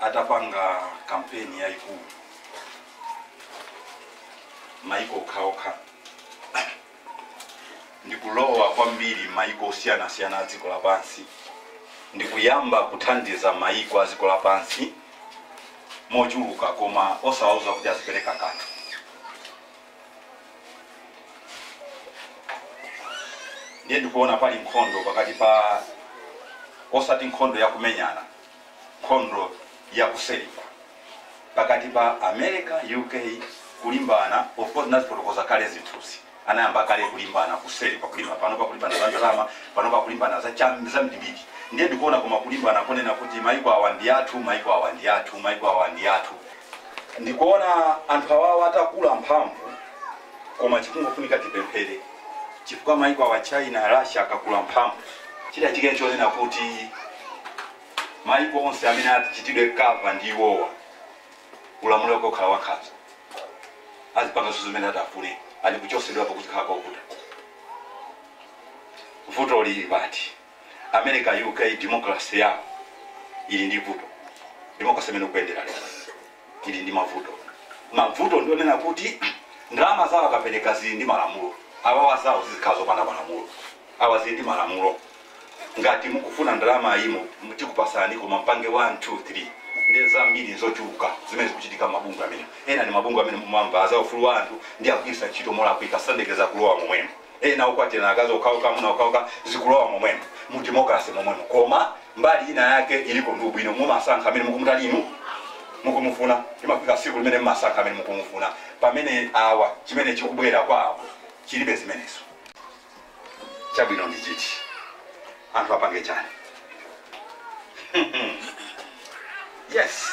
atapanga kampeni yayikulu maiko okhaokha ndikulowa kwambiri maiko osiyanasiyana a dziko lapansi ndikuyamba kuthandiza maiko a dziko lapansi mochuluka koma osawauza kuti azipereka kanthu ndiye ndikuona pali nkhondo pakati pa osati nkhondo yakumenyana nkhondo yakuseri kwa pakati pa america uk kulimbana of course nazifotokoza kale zinthuzi anayamba kale kulimbana kuseli pakulimba pano pakulimbana za ndalama pano pakulimbana za cham- za mdibidi ndiye ndikuona koma kulimbana konena kuti maiko awa ndi athu maiko awa ndi athu maiko awa ndi athu Ndikuona anthu awawa atakula mphamvu koma chikungofunika tipemphere chifukwa maiko awa China, Russia akakula mphamvu chitachike nchonena kuti maiko onse amene atichitidwe cover ndi iwowa ulamuliro wake ukhala wankhanza azipanga zonse zimene atafune and kuchosedwapo kuzikhala kovuta. Vuto lili pati? America, UK demokalase yawo ili ndi vuto. Demokalase imene ukuyendera lero ili ndi mavuto. Mavuto ndi onena kuti ndalama zawo akapereka zili ndi malamulo. Awawa zawo zizikhala zopanda malamulo. Awa zili ndi malamulo. Ngati mukufuna ndalama iyi mu- mu- tikupasani koma mpange 1 2 3 ndi zambiri zochuluka zimene zikuchitika mabungwe amene ena ndi mabungwe amene mumamva za ufulu wa anthu ndi akugwiritsa ntchito molakwika sandekeza kulowa momwemo ena okwatirana akazi okhaokha amuna okhaokha zikulowa momwemo mu democracy momwemo koma mbali ina yake iliko ndi ubwino mumasankha amene mukumutani inu mukumufuna imafika siku limene mmasankha amene mukumufuna pamene awa chimene chikubwera kwa awa chilibe zimenezo chabwino ndi chiti anthu apange chani yes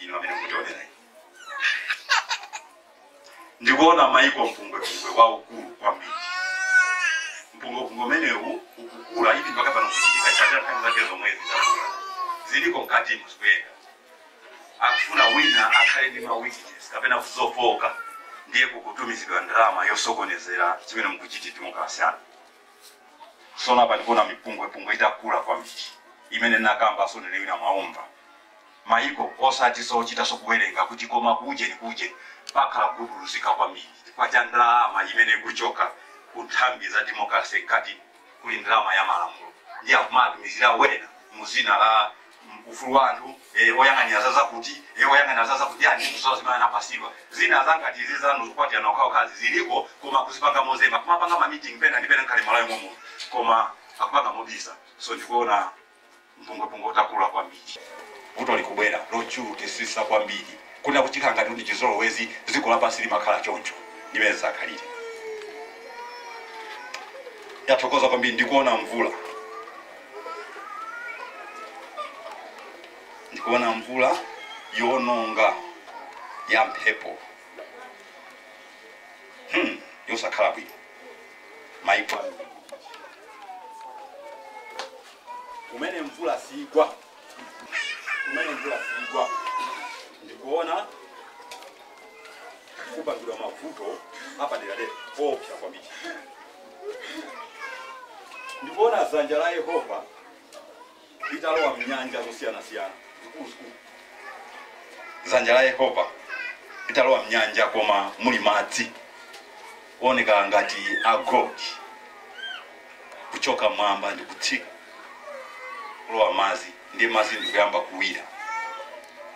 ino amene mukutionera ino ndikuona maiko mpungwepungwe waukulu kwambiri mpungwepungwe umenewu ukukula ili mpaka pano kuchitika chaka nthawi zake zomwe zidakula ziliko mkati muzikuyenda akufuna wina akhale ndi ma weakness kapena kuzofoka ndiye kukutumizidwa ndalama yosokonezera chimene mukuchita mukasiyana sona pandikuona mipungwepungwe itakula kwambiri imene nakambaso nene wina mwaumva mayiko osati zochitaso kuwerenga kuti koma kujeni kujeni pakhala kuguduluzika kwambili chifukwa cha ndalama imene ikuchoka ku nthambi za democracy mkati kuli ndalama ya malamulo ndiye akumatumizira wena muzina la mm, ufulu wa anthu eh, oyang'anira za zakuti eh, oyang'anira za zakuti ani kuthawa zimene anapasidwa zinazake ngati izi zanu zokwatirana okhaokhazi ziliko koma akuzipanga mozemba kumapanga ma meeting pena ndi pena nkhale malawi momuno koma akupanga mobisa so ndikuona mpungwepungwe ukukula kwambiri. Vuto likubwera lochulukisisa kwambiri kunena kuti chikhala ngati ndi chizolowezi dziko lapansi limakhala choncho ndi mene zakhalire. Yachulukira kwambiri ndikuona mvula ndikuona mvula yoononga ya mphepo hmm, yosakhala bwino. maiko ambiri kumene mvula siigwa kumene mvula siigwa ndikuona kupangika mavuto apaderadera oopsa kwambiri ndikuona dzanja la yehova litalowa m'nyanja zosiyanasiyana zikuluzikulu. Dzanja la Yehova litalowa m'nyanja koma muli madzi ooneka ngati a gold kuchoka mmwamba ndi kutsika kulowa madzi ndiye madzi ndikuyamba kuwira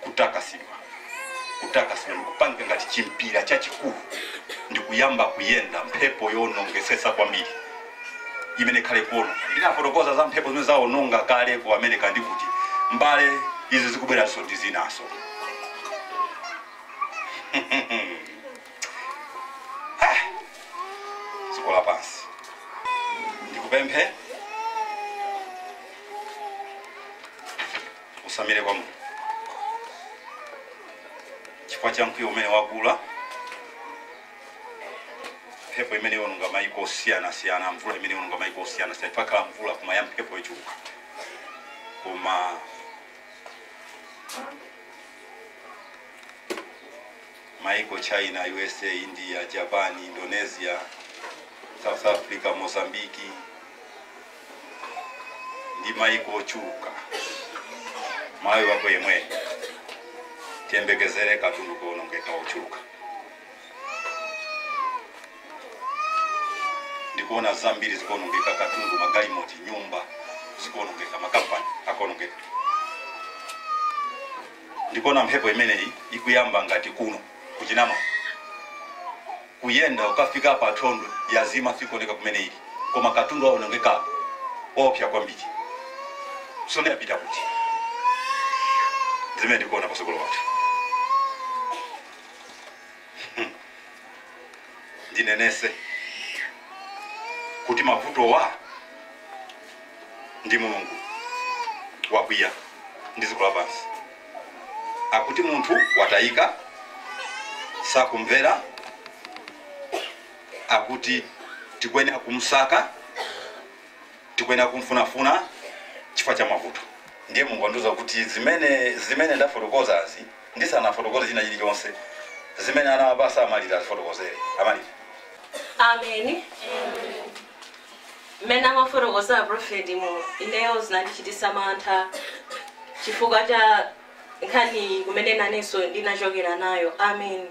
kutakasidwa, kutakasidwa, ndikupangika ngati chimpira chachikulu, ndikuyamba kuyenda mphepo yoonongesesa kwambiri imene ikhale kuononga. Ndinafotokoza za mphepo zimene zaononga kale ku America ndikuti mbale izi zikubweranso ndi zinaso. dziko lapansi ndikupempha Utsamire kwa Mulungu chifukwa cha mkwiyo umene wakula, mphepo imene iwononga maiko osiyanasiyana, mvula imene iwononga maiko osiyanasiyana. Pakhala mvula koma ya mphepo yochuluka, koma maiko China, USA, India, Japan, Indonesia, South Africa, Mozambique, ndi maiko ochuluka malawi wako yemweyo tiyembekezere katundu kuonongeka wochuluka ndikuona zambiri zikuonongeka katundu magalimoti nyumba zikuonongeka makampani akuonongeka ndikuona mphepo imeneyi ikuyamba ngati kuno kuchinama Kuyenda kukafika pa Thondwe yazima sikuoneka kumene ili koma katundu waonongeka koopsa kwambiri. Mphepo yapita kuti? Ndi zimene tikuona patsogolo pathu. Ndinenese kuti mavutowa ndi Mulungu wakwiya ndi dziko lapansi. akuti munthu watayika, sakumvera, akuti tikuyenera kumsaka, tikuyenera kumfunafuna chifukwa cha mavuto. Ndiye Mulungu andiuza kuti zimene zimene ndafotokozazi ndisanafotokoze china chilichonse zimene anawapatsa a Malira azifotokozere a Malira. Amen. Amen. mmene amafotokoza aprofetimo ineyo zinandichitisa mantha chifukwa cha nkhani kumene nanenso ndinachokera nayo amen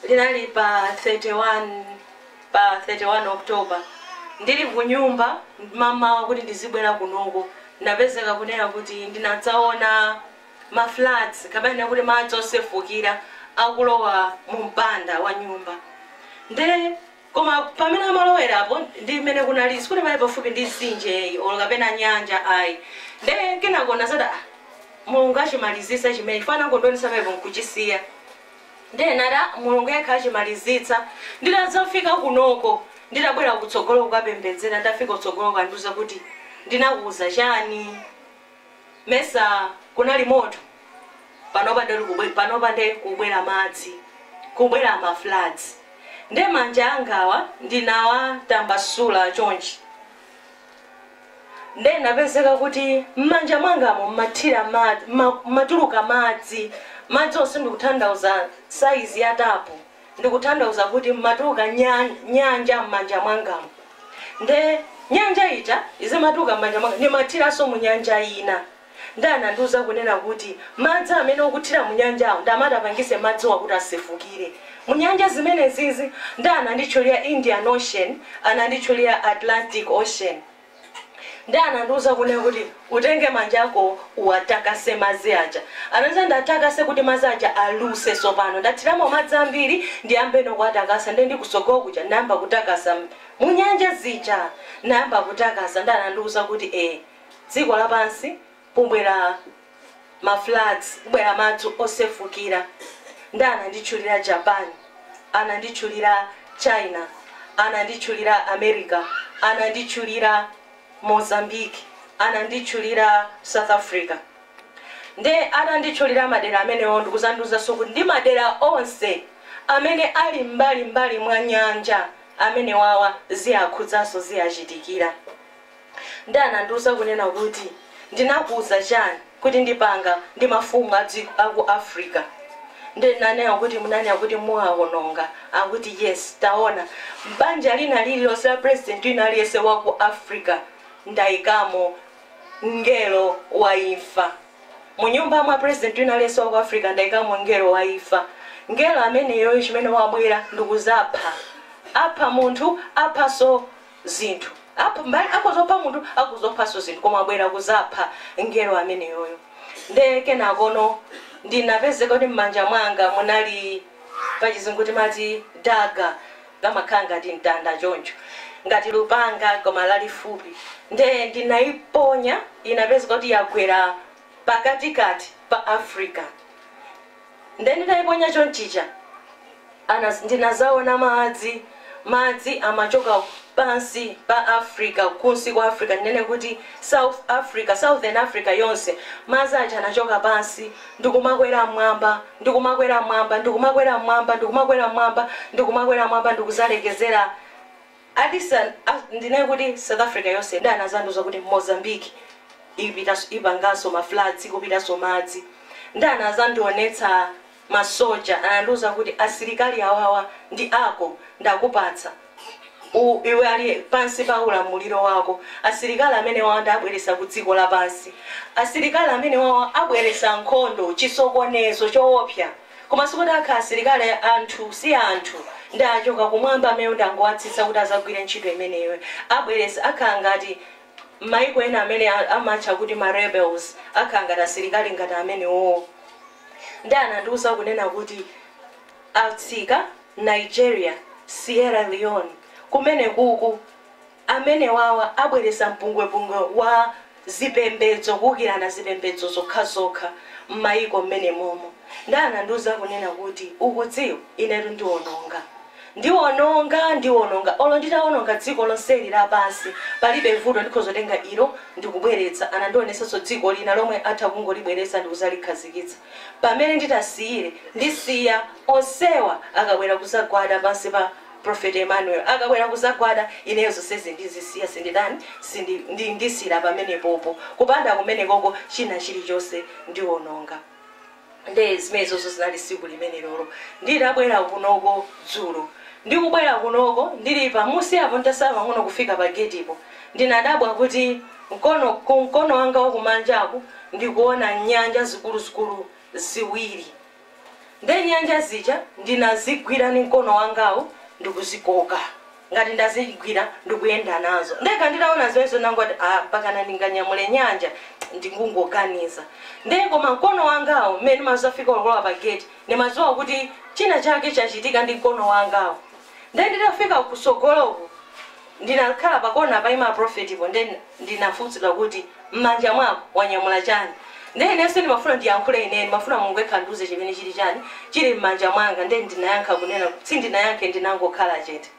linali pa 31 october ndili kunyumba mamawa kuti ndizibwera kunoko napezeka kunena kuti ndinadzaona ma floods kapena kuti madzi osefukira akulowa mu mpanda wa nyumba nde Koma pamene amalowerapo ndi mmene kunali, sikuti panali pafupi ndi mtsinje or kapena nyanja ayi. Nde kenako ndinazati ah Mulungu achimalizitsa chimenechi chifukwa anangondionetsa pamenepo nkuchisiya. Nde ndinati ah Mulungu yekha achimalizitsa. Nditadzafika kunoko, nditabwera kutsogolo kukapembedzera, nditafika kutsogoloko andiuza kuti ndinakuuza chani? mesa kunali moto panopa nde panopa nde kubwera madzi kubwera ma floods nde manja angawa ndinawatambasula chonchi nde napezeka kuti mmanja mwangamu mmathira ma- ma- matuluka madzi madzi onse ndikutanthauza saizi ya tapu ndikutanthauza kuti mmatuluka nya nyanja mmanja mwangamu nde nyanja ija izimatuluka mmanja mwanga ndimathiranso munyanja ina nde anandiuza kunena kuti madzi amene ukuthira munyanjawo nda amene atapangise madziwa kuti asefukire munyanja zimenezizi nde ananditchulia indian ocean ananditchulia atlantic ocean Ndiye anandiuza kunena kuti, Utenge manja akowo uwatakase madzi aja. Anandiuza ndiatakase kuti madzi aja aluse tsopano. Ndathiramo madzi ambiri ndiyambeno kuwatakasa. Ndiye ndili kutsogolo kuja ndinayamba kutakasa mu nyanja zija. Ndinayamba kutakasa ndiye anandiuza kuti, E, dziko lapansi kubwera ma floods kubwera madzi osefukira nde ananditchulira Japan ananditchulira China ananditchulira America ananditchulira Mozambique ananditchulira South Africa nde atanditchulira madera amenewo ndikuzandiuzanso kuti ndi madera onse amene ali mmbali mmbali mwa nyanja amenewawa ziakhudzanso ziachitikira. Nde anandiuza kunena kuti ndinakuuza chani kuti ndipanga ndi mafumu a maiko aku Africa nde ndinanena kuti munanena kuti muwaononga akuti yes taona mbanja lina lililonse la president wina aliyense wa ku Africa ndaikamo mngelo wa imfa mu nyumba mwa president wina aliyense wa ku Africa ndaikamo mngelo wa imfa mngelo ameneyoyo chimene wabwera ndikuzapha apha munthu aphanso zinthu. Akhoza kupha munthu, akhoza kuphanso zinthu, koma wabwera kudzapha Mngelo ameneyoyo. Ndiye kenakono ndinapezeka kuti mmanja mwanga munali, pa Chizungu timati dagger, kamakhala ngati mtanda choncho, ngati lupanga koma lalifupi. Ndiye ndinaiponya, inapezeka kuti yagwera pakatikati pa Africa. Nde nditaiponya chonchija ndinazaona madzi madzi amachoka pansi pa Africa kunsi kwa Africa ndinene kuti southern Africa yonse madzi aja anachoka pansi ndikumakwera mmwamba ndikumakwera mmwamba ndikumakwera mmwamba ndikumakwera mmwamba ndikumakwera mmwamba ndikuzalekezera ndinene kuti south africa yonse nde anazandiuza kuti mozambique ipangaso ma floods kupitaso madzi nde anazandionetsa ma soja anandiuza kuti asilikali awawa ndi ako ndakupatsa iwe ali pansi pa ulamuliro wako asilikali amenewawa nde abweretsa ku dziko lapansi asilikali amenewawa abweretsa nkhondo chisokonezo choopsa Koma sikuti akhala asilikali anthu si anthu nde achoka kumwamba amenewo ndangowatsitsa kuti azagwire ntchito imeneyo abweretse akhala ngati mmaiko ena amene amatcha kuti ma rebels akhala ngati asilikali ngati amenewowo nde anandiuza kunena kuti atsika Nigeria, Sierra Leone kumenekuku. amenewawa abweretsa mpungwepungwe wa zipembedzo, kuukirana zipembedzo zokhazokha m'mayiko mmenemomo. Ndiye anandiuza kunena kuti, Ukudziwa, inetu ndiwononga. Ndiwononga, ndiwononga. Olo nditawononga dziko lonseli lapansi, palibe vuto, ndikhoza kutenga ilo ndi kubweretsa. Anandionetsanso dziko lina lomwe atha kungolibweretsa ndi kudzalikhazikitsa pamene nditasiyire. Ndisiya onsewa akabwera kudzagwada pansi pa. Prophet Emmanuel akabwera kudzagwada ineyo zonsezi ndizisiya sinditani sindi ndi ndisiyira pamenepopo kupanda kumenekoko china chilichonse ndiononga nde zimenezozo zinali siku limenelolo nditabwera kunoko dzulo ndikubwera kunoko ndili pamusipa apo ntasala pang'ono kufika pa getipo ndinadabwa kuti mkono ku mkono wanga wakumanjaku ndikuona nyanja zikuluzikulu ziwiri Nde nyanja zija ndinazigwira ndi mkono wangawu ndikuzikoka ngati ndazigwira ndikuyenda nazo. Ndekha nditaona zimenezo ndinangoti aah mpakana ndinganyamule nyanja? Ndikungoganiza nde koma mkono wangawu mmene ndimazafika olo kulowa pa gate ndimaziwa kuti china chake chachitika ndi mkono wangawu. Nde nditafika kusogoloku ndinakhala pa kona paima aprofetipo nde ndinafunsidwa kuti mmanja mwako wanyamula chani nde ineyo sindimafuna ndiyankhule ineyo ndimafuna mulungu ekha andiuze chimene chili chani chili mmanja mwanga nde ndinayankha kunena sindinayankhe ndinangokhala chete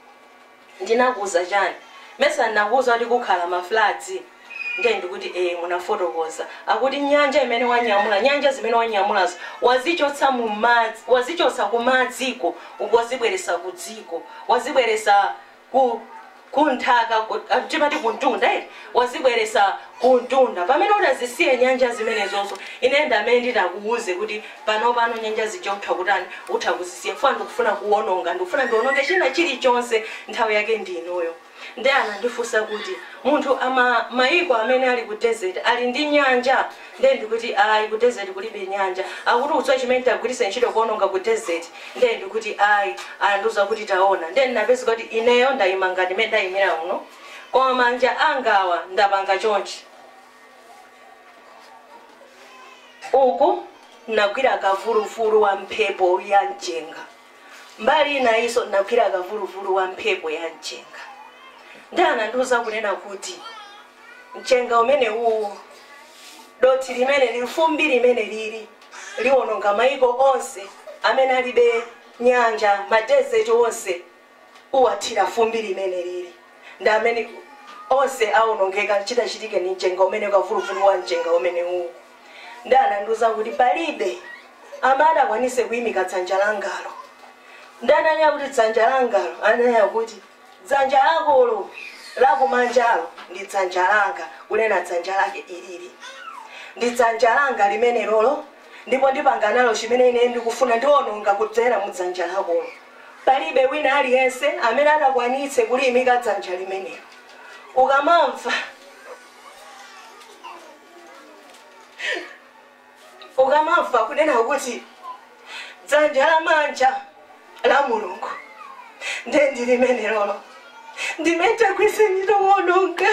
ndinakuuza chani mesa ndinakuuza kuti kukhala ma floods Ndiye ndikuti ee munafotokoza. Akuti nyanja imene wanyamula, nyanja zimene wanyamulazo wazichotsa mu madzi, wazichotsa ku madziko wazibweresa ku dziko, wazibweresa ku ku nthaka timati ku mtunda eti, wazibweresa ku mtunda. Pamene utazisiye nyanja zimenezozo, ine ndamene nditakuuze kuti panopano nyanja zija utha kutani, utha kuzisiya chifukwa ndikufuna kuononga, ndikufuna ndiononge china chilichonse nthawi yake ndi inoyo. Ndiye anandifunsa kuti, Munthu, ma, maiko amene ali ku desert ali ndi nyanja? Ndiye ndikuti, Ayi, ku desert kulibe nyanja. Akuti ukudziwa chimene nditagwiritse ntchito kuononga ku desert? Ndiye ndikuti, Ayi. Anandiuza kuti, Taona. Ndiye ndinapeza kuti ineyo ndaima ngati mmene ndaimira muno, koma manja angawa ndapanga chonchi. Uku ndinagwira kavuluvulu wa mphepo ya mchenga. Mbali inayinso ndinagwira kavuluvulu wa mphepo ya mchenga. Ndiye anandiuza kunena kuti, Mchenga umenewuwu, dothi limeneli, fumbi limenelili liwononga mayiko onse amene alibe nyanja, madesert onse uwathira fumbi limenelili ndiye amene, onse awonongeka chitachitike ndi mchenga umenewu, kavuluvulu wa mchenga umenewuwu. Nde anandiuza kuti palibe amene atakwanitse kuimika dzanja langalo. Nde atanena kuti dzanja langalo ananena kuti dzanja lakolo lakumanjalo ndi dzanja langa kunena dzanja lake ilili. Ndi dzanja langa limenelolo ndipo ndipanga nalo chimene ine ndikufuna ndiononga kudzera mu dzanja lakolo. Palibe wina aliyense amene atakwanitse kuliimika dzanja limenelo. Ukamamva. ukamamva kunena kuti dzanja lamanja la mulungu nde ndi limene lolo ndi limene kwake sintchito yowononga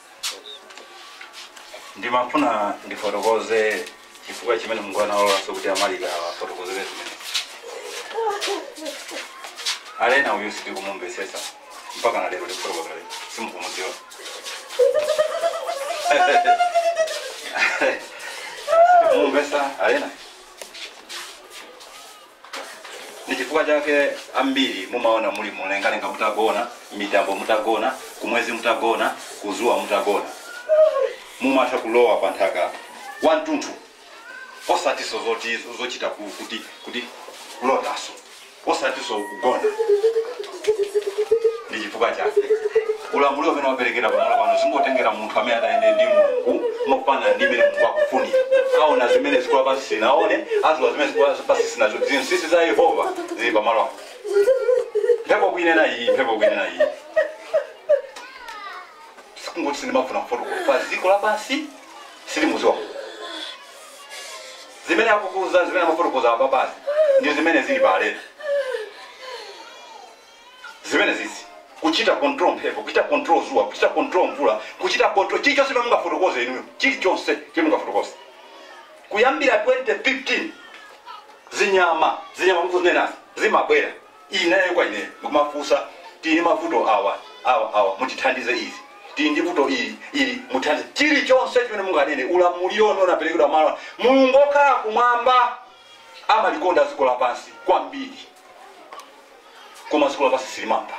ndimafuna ndifotokoze chifukwa chimene mulungu analolanso kuti amalika afotokoze zimene alendo uyu sitikumumvetsetsa mpaka na lero tikufotokozere simukumudziwa sitikumumvetsa alendo ndi chifukwa chake ambiri mumaona muli mumlengalenga mutagona mitambo mutagona kumwezi mutagona kuzuwa mutagona mumatha kulowa pa nthaka wamtunthu osatinso zoti zochita ku- kuti kuti kulotanso osatinso kugona ndi chifukwa chake ulamuliro umene waperekedwa pamalo pano zingotengera munthu amene atayenda ndi mulungu mogwirizana ndi mmene mulungu akufunira aona zimene dziko lapansi silinaone adziwa zimene dziko lapansi silinadziwe zinsinsi za yehova zili pamalo apo mphepo kuinena iyi mphepo kuinena iyi sikungoti sindimafuna kufotokoza pa dziko lapansi silimudziwa Zimene akukuuza, zimene amafotokoza apa basi ndi zimene zili pa alendo. Zimene izi kuchita control mphepo, kuchita control zuwa, kuchita control mvula, kuchita control chilichonse chimene mungafotokoze inuyo, chilichonse chimene mungafotokoze kuyambira 2015 zinyama zinyama mukuzinenazi zimabwera Ineyo kwa ine nkumafunsa tili ndi mavuto awa awa awa mutithandize ili tili ndi vuto ili ili mutithandize chilichonse chimene munganene ulamuliro unaperekedwa mulungu wokhala kumwamba amalikonda dziko lapansi kwambiri koma dziko lapansi silimamva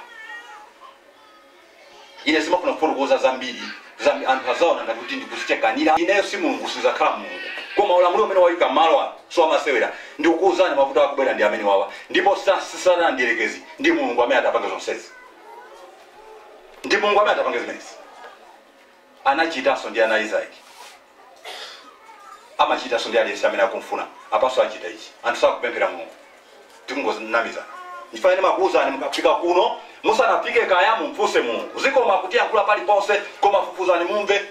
ine sindimafuna kufotokoza zambiri zambi anthu adzaona ngati kuti ndikudzichemerera ineyo si mulungu sindidzakhala mulungu koma ulamuliro umene wayika malo ano si wamasewera ndikukuwuzani mavuto akubwera ndi amene wawa ndipo sa- si satana ndiyerekezi ndi mulungu amene atapange zonsezi ndi mulungu amene atapange zimenezi Anachitanso ndi ana a Isaki. Amachitanso ndi aliyense amene akumfuna. Apanso achita ichi. Anthu sakupemphera Mulungu. Tikungonamizana. Nchifukwa chake ndimakuuzani mukafika kuno, musanafike kaya mumfunse Mulungu. Zikomo akutiyankhula paliponse koma fufuzani mumve.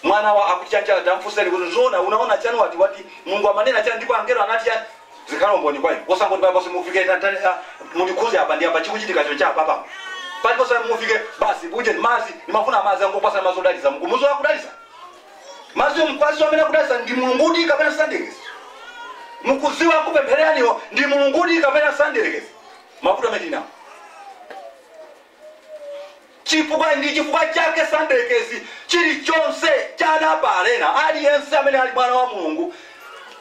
Mwana wa akuti chani chani tamfunseni kuti nzoona unaona chani wati wati Mulungu amanena chani ndipo angelo anati chani? zikhale umboni kwa inu osangoti paliponse mufike tantani ah, mundikhuze apa ndi apa chikuchitikacho cha apa pano paliponse mufike basi buje madzi ndimafuna madzi angopatsa madzi odalitsa mkumuzo akudalitsa madzi mkwazi amene akudalitsa ndi mulungudi kapena sanderekezi mukudziwa akupemphereraniwo ndi mulungudi kapena sanderekezi mavuto amene tili nawo Chifukwa, ndi chifukwa chake Sandekezi, chirichonse cha ana a Baalena, aliyense amene ali mwana wa Mulungu,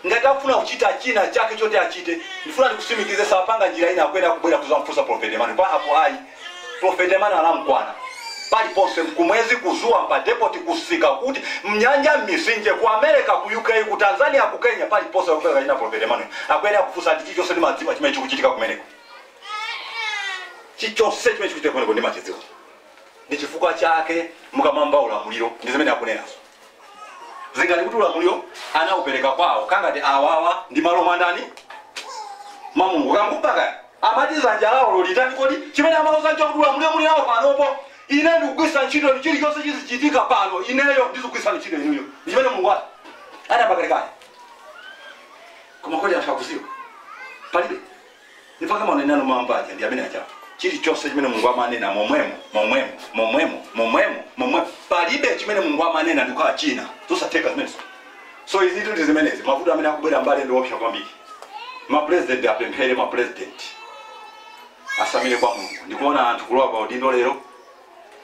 ngati akufuna kuchita chinachake choti achite, ndifuna ndikutsimikize, sapanga njira ina, akuyenera kubwera kudzamufunsa Profeti Emanu. Apo ayi, Profeti Emanu anamukwana. Paliponse, kumwezi, ku dzuwa, pa depoti, kumsika, kuti, mnyanja, mmitsinje, ku Amerika, ku UK, ku Tanzania, ku Kenya, paliponse, akufuna kachina Profeti Emanu. Akuyenera kufunsa, ndi chirichonse ndimadziwa chimene chikuchitika kumeneko. Chilichonse chimene chikuchitika kumeneko ndimachidziwa. Ndi chifukwa chake mukamamva ulamuliro, ndi zimene akunenazo. Zingati kuti ulamuliro anaupereka kwawo, kungati awawa ndi malo mwa ndani? Mwa Mulungu. Kambuba kaya amati dzanja lawo lolitani kodi? Chimene amauza nchakuti ulamuliro muli nawo panopa. Ine ndikugwiritsa ntchito inu, chilichonse chizichitika pano, ineyo ndizikugwiritsani ntchito inuyo. Ndi chimene Mulungu ati anayamba kalekale. Koma kodi anthu akudziwa? Palibe. Nipaka maneno anu mamba aja ndi amene aja. Chilichonse chimene Mulungu amanena momwemo, momwemo, momwemo, momwemo, momwemo. Palibe chimene Mulungu amanena ndi kukhala china. Zosatheka zimenezo. So izi ndi zimenezi mavuto amene akubwera mbali ndi oopsa kwambiri. Ma president apemphere ma president atsamire kwa Mulungu. Ndikuona anthu kulowa pa udindo lero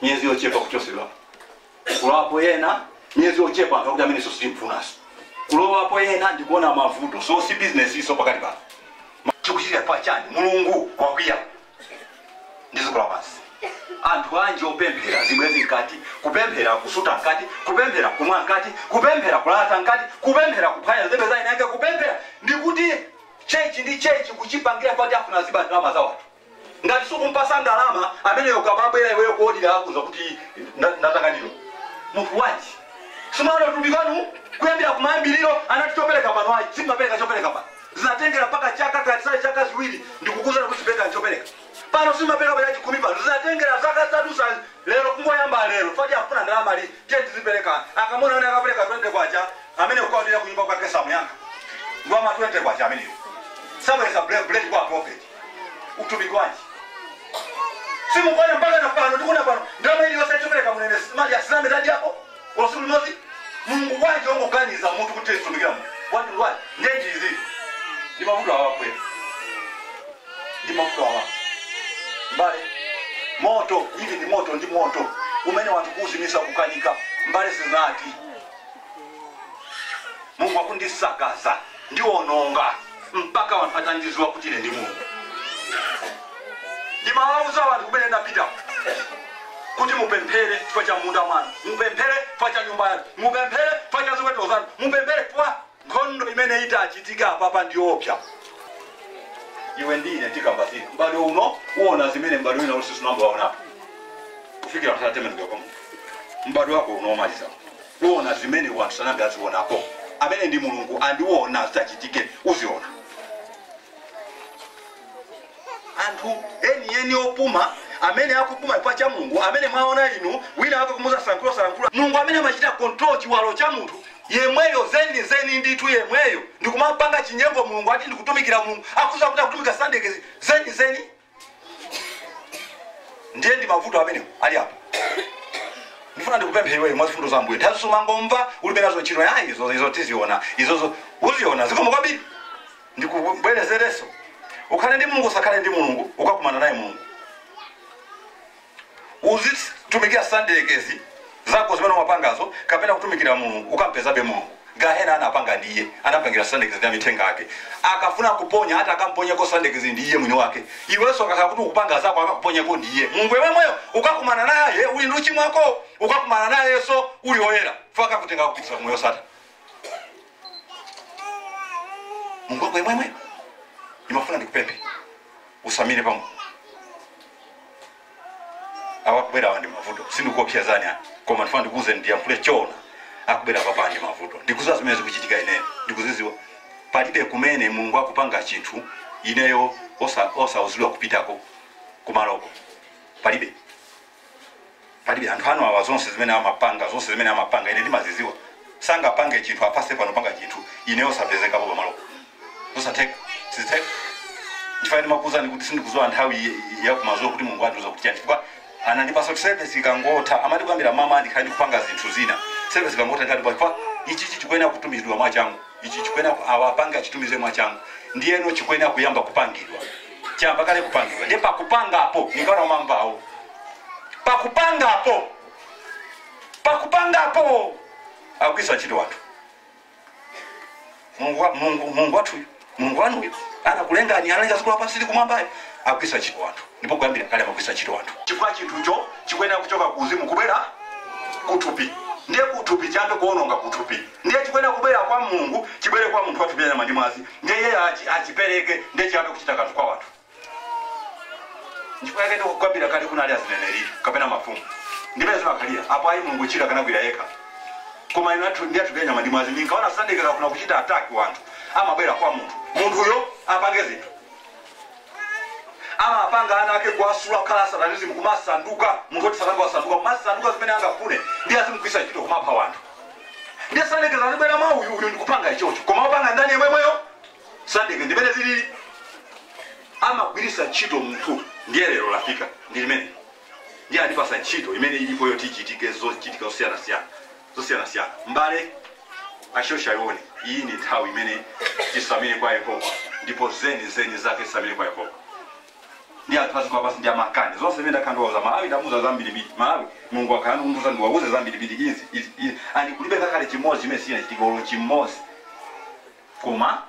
miyezi yochepa kuchotsedwa. kulowapo ena miyezi yochepa anthu akuti amenenso sitimfunanso kulowapo ena ndikuona mavuto so si business izo pakati pano chikuchitira pa chani mulungu wakwiya ndi dziko lapansi anthu anji opemphera zibwenzi mkati kupemphera kusuta mkati kupemphera kumwa mkati kupemphera kulata mkati kupemphera kuphwanya zebe za ina yake kupemphera ndikuti chechi ndi chechi kuchipangira kuti afuna aziba ndalama za wanthu Ngati sukumpatsa ndalama ameneyo ukamabwera iweyo kuodira akuuza kuti nda- ndatanganidwa munthu wanji sinaona utumiki wanu kuyambira kumayambiriro anati chopereka pano ayi simapereka chopereka pano zinatengera mpaka chaka kapena chaka ziwiri ndikukuuzani kuti sipereka chopereka pano simapereka pa chachikumi pano zinatengera zaka zitadusa lero kungoyamba lero fati akufuna ndalama ali tiye tizipereka akamuona amene akapereka 20 kwacha amene kukaodira kunyumba kwake samuyankha ngwa ma 20 kwacha ameneyo sabwenza buledi kwa profeti utumiki wanji simukuona mpaka na pano tikuna pano ndalama iliyonse chopereka munene mali asiname tadyapo tsiku limodzi mulungu wanji ongoganiza munthu kuti tizitumikira munthu wati wa chinyengo izi ndi mavuto awakwera ndi mavuto awa mbale moto uwu ndi moto ndi moto umene wanthu kuuzimisa kukanika mbale zinati mulungu akundisakaza ndiwononga mpaka wanthu atandiziwa kuti ine ndi mulungu ndimawauza wanthu kumene ndapitako kuti mupemphere chifukwa cha munda mwanu mupemphere chifukwa cha nyumba yanu mupemphere chifukwa cha ziweto zanu mupemphere kwa nkhondo imene itachitika apapa ndiopsa iwe ndi ine tikamba zina mbadwe uno uona zimene mbadwe wina uliwonse sunayambe waonapo kufikira nthawi atembenukira kwa munthu mbadwe wako uno omaliza Uona zimene wanthu sanayambe azionapo amene ndi mulungu and uona zitachitike uziona anthu eni eni opuma amene akupuma chifukwa cha mulungu amene mwaona inu wina wake kumuuza sankhulo salankhula mulungu amene amachita control chiwalo cha munthu yemweyo zeni zeni ndithu yemweyo ndikumampanga chinyengo mulungu ati ndikutumikira mulungu akuziwa kuti akutumikira satana mdyerekezi zeni zeni ndiye ndi mavuto amenewo ali apo ndifuna ndikupemphe iweyo mwa zifundo za ambuye nthawi zonse umangomva ulibe nazo ntchito ya izo izo tiziona izozo uziona zikomo kwambiri ndikubwerezereso ukhale ndi mulungu usakhale ndi mulungu ukakumana naye mulungu Uzitumikira Satana mdyerekezi zako zimene umapangazo kapena kutumikira Mulungu ukampezabe Mulungu. Gahena anapanga ndi iye anampangira Satana mdyerekezi ndi amithenga ake. Akafuna kuponya ati akamponyeko Satana mdyerekezi ndi iye mwini wake. Iwenso akakhala kuti ukupanga zako akakuponyeko ndi iye. Mulungu yemwemweyo ukakumana naye uli ndi uchimo wakowo ukakumana nayenso uli oyera chifukwa akakutenga akupititsa ku moyo osatha. mulungu wake yemwemweyo ndimafuna ndikupemphe usamale pamene akubwera awa ndi mavuto sindikuopsezani ayi koma ndifuna ndikuuze ndiyankhule choona akubwera apapa ndi mavuto ndikuziwa zimene zikuchitika ineyo ndikuziziwa palibe kumene mulungu akupanga chinthu ineyo osa- osauzidwa kupitako kumaloko palibe palibe anthu anu awa zonse zimene amapanga zonse zimene amapanga ine ndimaziziwa sangapange chinthu apase pano panga chinthu ine osapezekapo pamalopo zosatheka sizitheka chifukwa ndimakuuzani kuti sindikuziwa nthawi ye- yakumazulo kuti mulungu andiuza kuti chani chifukwa anandipasa kuti service ikangotha amati kuyambira mawa ndikhale ndikupanga zinthu zina service ikangotha ndikhale ndikupanga chifukwa ichichi chikuyenera kutumizidwa mwachangu ichi chikuyenera ku- awa apange achitumize mwachangu ndiyeno chikuyenera kuyamba kupangidwa chayamba kale kupangidwa ndiye pakupangapo ningana umamvawo pakupangapo pakupangapo akugwiritsa ntchito wanthu mulungu wa- mulungu mulungu wathuyu mulungu wanuyu anakulengani analenga dziko lapansi ndi kumwambayo akugwiritsa ntchito wanthu ndipo kuyambira kale amagwiritsa ntchito wanthu chifukwa chinthucho chikuyenera kuchoka ku uzimu kubwera kuthupi ndiye kuthupi chiyambe kuononga kuthupi Ndiye chikuyenera kubwera kwa Mulungu chibwere kwa munthu wa thupi la nyama ndi mwazi, ndiye iyeyo achi, achipereke, ndiye chiyambe kuchita kanthu kwa wanthu. Nchifukwa yake ndikukwambirani kale kunali azineneri kapena mafumu ndi pamene zimakhalira apo, ayi Mulungu chira kanagwira yekha koma inu anthu ndi athupi la nyama ndi mwazi mukaona satana akufuna kuchita attack wanthu amabwera kwa munthu munthuyo apange zinthu amapanga ana ake kuwasula kukhala asatanism kumasanduka munthu woti sanati wasanduka kumasanduka zimene angafune ndi azimugwiritsa ntchito kumapha wanthu Ndiye Satana azabwera mwa uyu uyu nkupanga ichocho, koma opanga ndani yemwemweyo? Satana ndimmene zilili, amagwirisa ntchito munthu. Ndiye lero lafika ndi limene, ndiye andipasa ntchito imene ilipo yoti ichitike, zochitika zosiyana siyana zosiyana siyana. Mbale ashosha yoni, iyi ndi nthawi imene tisamire kwa Yehova, ndipo zeni zeni zake tisamire kwa Yehova. ndi anthu aziko apasi ndi amakani zonse zimene ndakhala ndikuwauza malawi ndamuza zambirimbiri malawi mulungu akhala akundiuza ndiwauze zambirimbiri izi izi izi ndi kulibe ngakhale chimodzi chimene sichinachitika olo chimodzi koma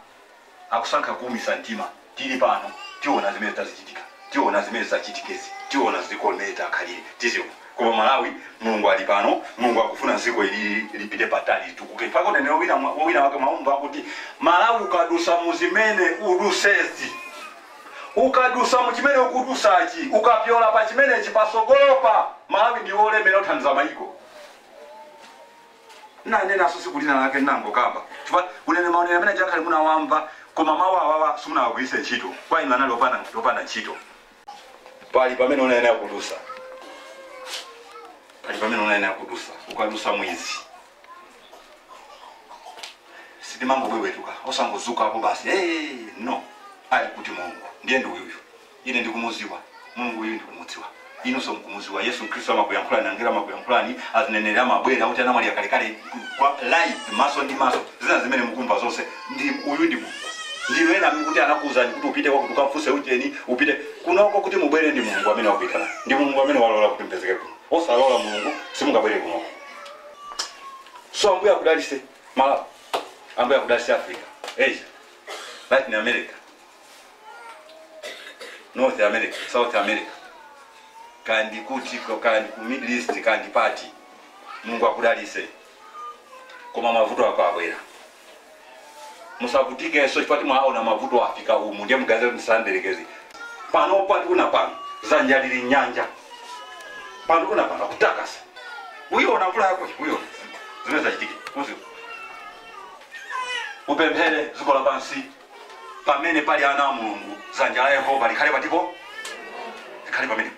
akusankha kuumisa mtima tili pano tiona zimene zizichitika tiona zimene zachitikezi tiona ziko mmene likhalire tiziona koma malawi mulungu ali pano mulungu akufuna ziko ili lipite patali litukuke mpaka unenero wina wina wake umakamba kuti malawi ukadusa muzimene udusezi Ukadusa muchimene ukudusachi ukapyola pachimenechi pasogolopa Malawi ndiwe olemera othandiza mayiko. Nnanenaso siku lina lake nnangokamba chifukwa uneneri mauneneri amene aja akhale munawamva koma mau awawa simunawagwiritse ntchito kwa inu anali opanda opanda ntchito. Pali pamene unayenera kudusa pali pamene unayenera kudusa ukadusa mwizi. sitimangobwebwetuka osangozuka basi hey, no ali kuti mulungu ndiye ndi uyuyu ine ndikumuziwa mulungu uyu ndikumudziwa inunso mkumuziwa yesu khristu amakuyankhulani angelo amakuyankhulani azineneri amabwera kuti anamwali akalekale pa live maso ndi maso zina zimene mukumva zonse ndi uyu ndi mulungu ndinu ena amene kuti anakuwuzani kuti upite kwakuti ukamfunse ujeni upite kunoko kuti mubwere ndi mulungu amene wakuitana ndi mulungu amene walola kuti mpezeke kuno osalola mulungu simungabwere kunoko so ambuye akudalise malawi ambuye akudalise africa asia latin america north america south america kandi kuti ko- kandi ku middle east kandi pati mulungu akudalise koma mavuto ako abwera musavutikenso chifukwa mwaona mavuto afika umu ndiye muganize kuti ndisanderekeze panopa tikuna pano zanja lili nyanja pano kuna pano akutakasa uyiona mvula yako uziona zimene zachitika kuziwa upemphere dziko lapansi pamene pali ana a mulungu dzanja la yehova likhale patipo likhale pamenepo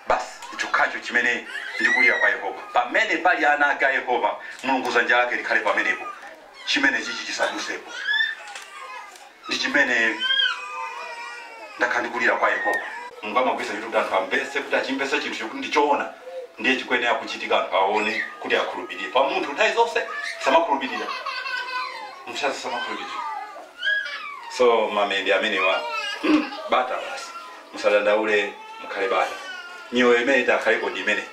basi chokhacho chimene ndikulira kwa yehova pamene pali ana ake a yehova mulungu dzanja lake likhale pamenepo chimene chichi chisadusepo ndi chimene ndakhala ndikulira kwa Yehova. Mulungu amagwiritsa ntchito kuti anthu amvetse kuti achimvetsa chinthucho kuti ndi choona ndiye chikuyenera kuchitika anthu aone kuti akhulupirire. Paja munthu nthawi zonse samakhulupirira, munthu nthawi zonse samakhulupirira. So mamende amenewa hmm, bata basi, musadandaule, mukhale bata. Miyoyo imene takhalapo ndi imene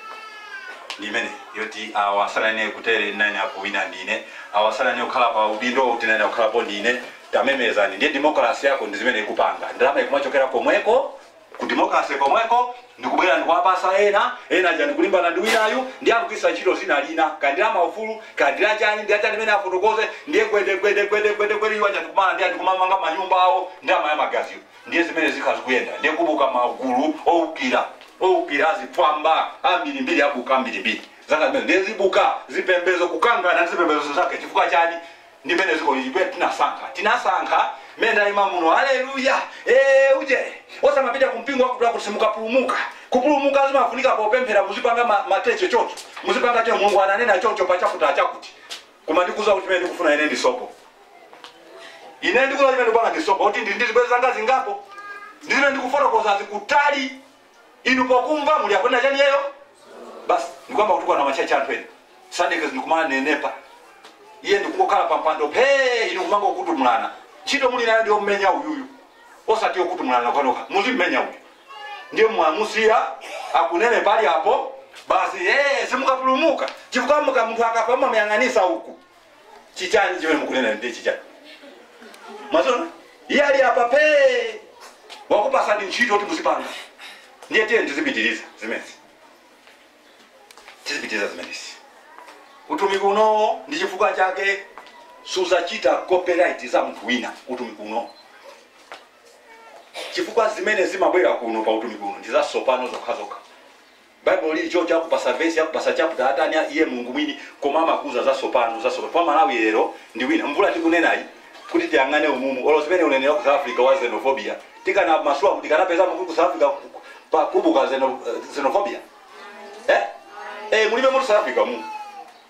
ndi imene yoti awa asanane kutere nane apo wina ndine awa asanane kukhala pa udindo kuti nane kukhalapo ndine Tamemezani ndiye democracy yako ndizimene ikupanga, ndalama ikumachokera komweko ku democracy komweko ndikubwera ndikuwapatsa ena, ena aja ndikulimbana ndi winayu ndiye akugwiritsa ntchito dzina lina kaya ndi lamaufulu kaya ndi lachani ndi lachani limene afotokoze ndiye gwede gwede gwede gwede gwede iwo aja ndikumana ndiye ndikumamanga manyumba awo ndi amaya magaziwo ndiye zimene zikhala zikuyenda ndiye kukubuka magulu owukira owukira azifwamba ambirimbiri abuka ambirimbiri zaka zimene ndiye zibuka zipembezo kukangana ndi zipembezo zake chifukwa chani ndi mmene dziko lili pena tinasankha tinasankha mmene ndayima muno haleluya ee uje osamapita ku mpingo wakuti wakuti simukapulumuka kupulumuka zimafunika popemphera muzipanga ma- mateche choncho muzipanga choncho mulungu ananena choncho pa chakuti achakuti koma ndikuuza kuti chimene ndikufuna ine ndi sopo ine ndikuuza chimene ndikupanga ndi sopo kuti ndi ndi zibwezi zanga zingapo ndizimene ndikufotokoza zikutali inu pokumva muli akunena chani iyeyo basi ndikuyamba kutukwana machachi anthu ena sadekezi ndikumanenepa iye ndikungokhala pampando phee inu kumangokutumulana ntchito muli nayo ndiyo mmenya uyuyu osati yokutumulana nokhanokha muzimmenya uyu ndiye mwamusiya akunenepa ali apo basi ee simukapulumuka chifukwa muka munthu akapa mumamuyang'anitsa uku chichani chimene mukunena ndiye chichani mwaziona iye ali apa phee wakupatsani ntchito kuti muzipanga ndiye tiye tizipitiriza zimenezi tizipitiriza zimenezi utumiki unowo ndi chifukwa chake sudzachita copyright za munthu wina utumiki unowo chifukwa zimene zimabwera kuno pa utumiki uno ndi zatsopano zokhazokha Baibulo lili choncho akupatsa vesi akupatsa chapter atani a iye Mulungu mwini koma amakuuza zatsopano zatsopano chifukwa Malawi lero ndi wina mvula tikunenayi kuti tiyang'ane umumu olo zimene uneneri wa ku South Africa wa xenophobia tikanamasula mu tikanapezamo kuti ku South Africa ku- ku- kukubuka xeno- eh, xenophobia eh eh mulibe mutu South Africa mu